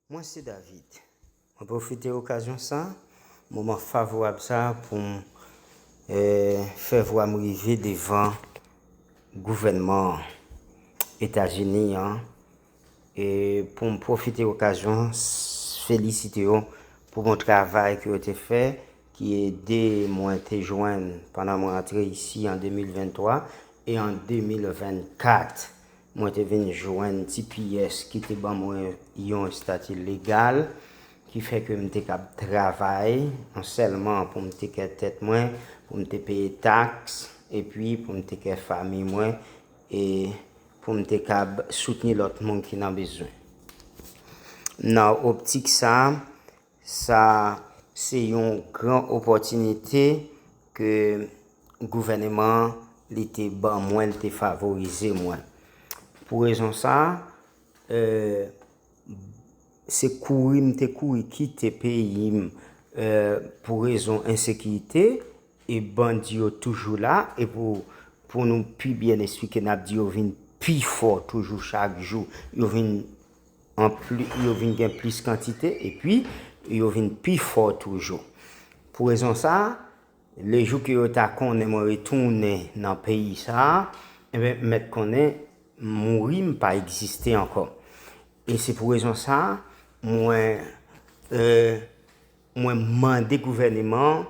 Mwen se David. Mwen pwofite okazyon sa, moman favorab sa pou m fè vwa m rive devan gouvènman Etazini an E pou m pwofite okazyon an felisite yo pou bon travay ke yo te fè ki ede mwen te jwenn pandan mwen antre isi an 2023 e an 2024 mwen te vin jwenn tps ki te ban mwen yon estati legal ki fè ke m te kab travay non sèlman pou m tekè tèt mwen, pou m te peye taks epi pou m tekè fami mwen E pou m te kab soutni lòt moun ki nan bezwen. Nan optik sa, sa se yon gran opòtinite ke gouvèneman an li te ban mwen, li te favorize mwen. Pou rezon sa, e. Se kouri m te kouri kite peyi m pou rezon ensekirite e bandi yo toujou la e pou nou pi byen esplike n ap di yo vin pi fò toujou chak jou yo vin gen plis kantite epi yo vin pi fò toujou pou rezon sa a Le jou ke yo ta konnen mwen retounen nan peyi sa a, enben, m mèt konnen m mouri, m pa egziste ankò. E se pou rezon sa a, mwen, e, mwen mande gouvèneman an,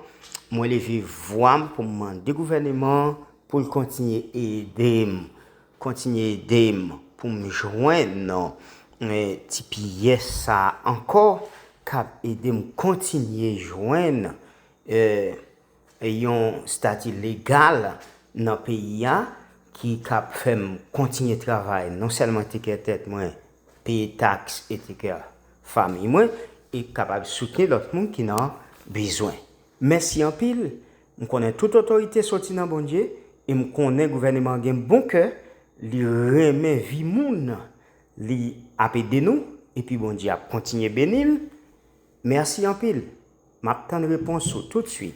mwen leve vwa m pou m mande gouvèneman an pou l kontinye ede m, kontinye ede m pou m jwenn ti pyès sa a ankò k ap ede m kontinye jwenn. e yon stati legal nan peyi a ki kap fè m kontinye travay non sèlman tekè tèt mwen, peye taks e tekè famiy mwen e kapab soutni lòt moun ki nan bezwen. Mèsi anpil, m konnen tout otorite soti nan Bondye e m konnen gouvèneman an gen bon kè, li renmen vi moun, li ap ede nou epi Bondye ap kontinye beni l. Mèsi anpil. Map tann repons ou tout suit.